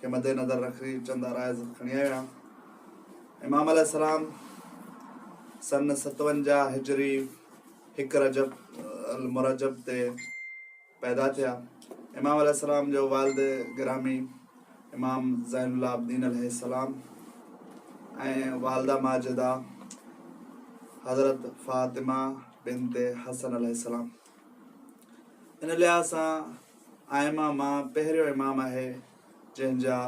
کي مد نظر رکي چند عرائض کڻي آيو آهيان. امام عليه السلام سن ستونجاهه هجري هڪ رجب المرجب تي پيدا ٿيا. امام عليه السلام جو والد گرامي امام زين العابدين عليه السلام ۽ والده ماجده حضرت فاطمه بنت حسن عليه السلام. ان لحاظ سان ائمه مان پهريون امام آهي جنهن جا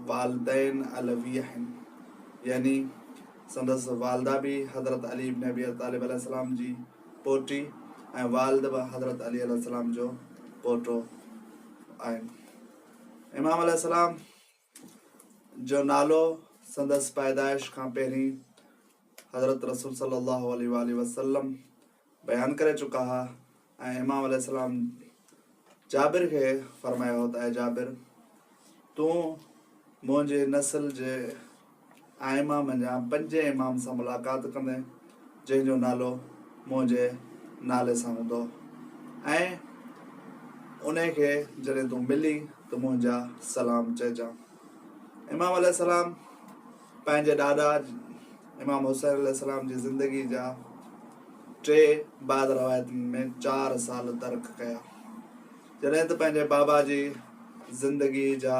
والدين علوي آهن يعني سندس والده به حضرت علي ابن ابي طالب عليه السلام جي پوٽي ۽ والد به حضرت علي عليه السلام جو پوٽو آهن امام عليه السلام جو نالو سندس پيدائش کان پهرين حضرت رسول صلي الله عليه واٰله وسلم بيان ڪري چڪا ها ۽ امام عليه السلام جابر کي فرمايو هو ته اي جابر تون منهنجي نسل جي ائمه منجهان پنجين امام سان ملاقات ڪندين، جنهن جو نالو منهنجي نالي سان هوندو ۽ انهي کي جڏهن تون ملين ته منهنجا سلام چئجان. امام عليه السلام پنهنجي ڏاڏا امام حسين عليه السلام جي زندگي جا ٽي بعض روايتن ۾ چار سال درڪ ڪيا، جڏهن ته پنهنجي بابا جي زندگي جا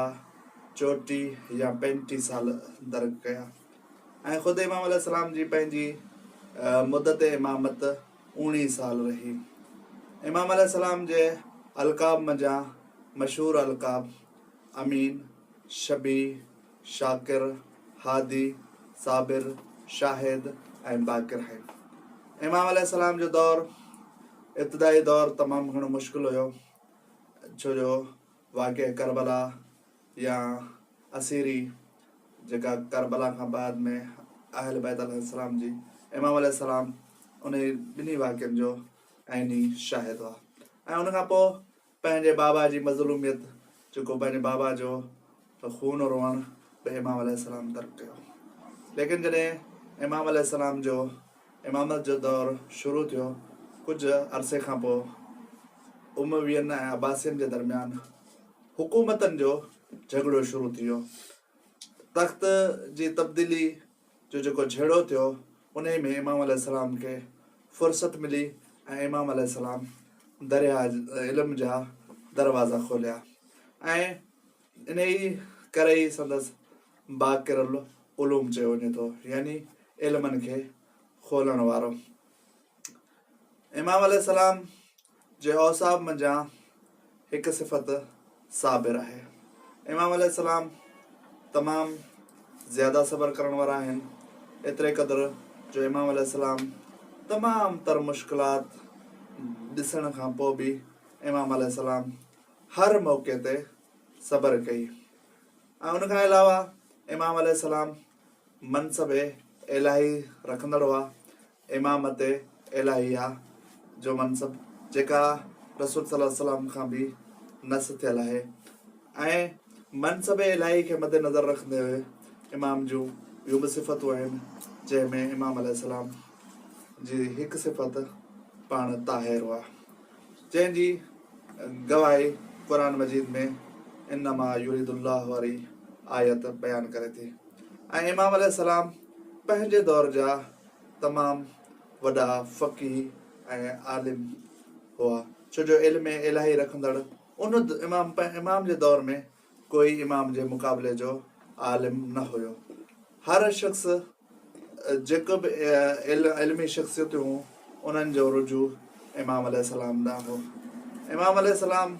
چوٽي يا پينٽي سال درڪ ڪيا ۽ خود امام عليه السلام جي پنهنجي مدت امامت اوڻيهه سال رهي. امام عليه السلام جي القاب منجهان مشهور القاب امين، شبيع، شاڪر، هادي، صابر، شاهد ۽ باقر آهن. امام عليه السلام جو دور ابتدائي دور تمام گهڻو مشڪل هيو ڇو جو واقع ڪربلا يا اسيري جيڪا ڪربلا کان بعد ۾ اهل بيت عليهم السلام جي امام عليه السلام انهي ٻنهي واقعن جو عيني شاهد هئا ۽ ان کان پوء پنهنجي بابا جي مظلوميت جيڪو پنهنجي بابا جو خون روئڻ به امام عليه السلام ترڪ ڪيو ليڪن جڏهن امام عليه السلام جو امامت جو دور شروع ٿيو. ڪجهه عرصي کان پوء اموين ۽ عباسين جي درميان حڪومتن جو جهڳڙو شروع ٿي ويو. تخت جي تبديلي جو جيڪو جهيڙو ٿيو انهي ۾ امام عليه السلام کي فرصت ملي ۽ امام عليه السلام درياهه علم جا دروازا کوليا ۽ انهيء ڪري ئي سندس باقر العلوم چيو وڃي ٿو، يعني علمن کي کولڻ وارو. امام عليه السلام جي اوصاف منجهان هڪ صفت صابر آهي. امام عليه السلام تمام زياده صبر ڪرڻ وارا آهن، ايتري قدر جو امام عليه السلام تمام تر مشڪلات ڏسڻ کان پوء به امام عليه السلام هر موقعي تي صبر ڪئي ۽ ان کان علاوه امام عليه السلام منصب الاهي رکندڙ هئا، امامت الاهيه جو منصب جيڪا رسول صلي الله عليه وسلم کان به نص ٿيل آهي ۽ منصب الاهي کي مد نظر رکندي هئي امام جون ٻيون به صفتون آهن جنهن ۾ امام عليه السلام جي هڪ صفت پاڻ طاهر هئا. جنهن جي گواهي قرآن مجيد ۾ انما يريد الله واري آيت بيان ڪري ٿي ۽ امام عليه السلام پنهنجي دور جا تمام وڏا فقيه ۽ عالم هئا ڇو جو علم الاهي رکندڙ ان امام امام جي دور ۾ ڪوئي امام جي مقابلي جو عالم نه هيو. هر شخص جيڪو به علمي شخصيتون هون انهن جو رجوع امام عليه السلام ڏانهن هو. امام عليه السلام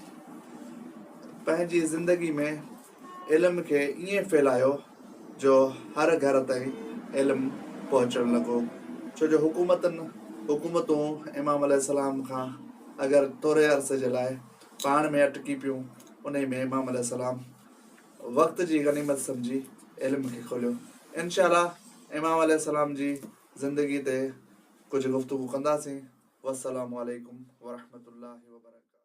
پنهنجي زندگي ۾ علم کي ائين ڦهلايو جو هر گهر تائين علم پهچڻ لڳو ڇو جو حڪومتن حڪومتون امام عليه السلام کان اگر ٿوري عرصي جي لاء پاڻ ۾ اٽڪي پيون، انهي ۾ امام عليه السلام وقت جي غنيمت سمجهي علم کي کوليو. انشاء الله امام عليه السلام جي زندگي تي ڪجهه گفتگو ڪنداسين. والسلام عليڪم ورحمة الله وبرڪاته.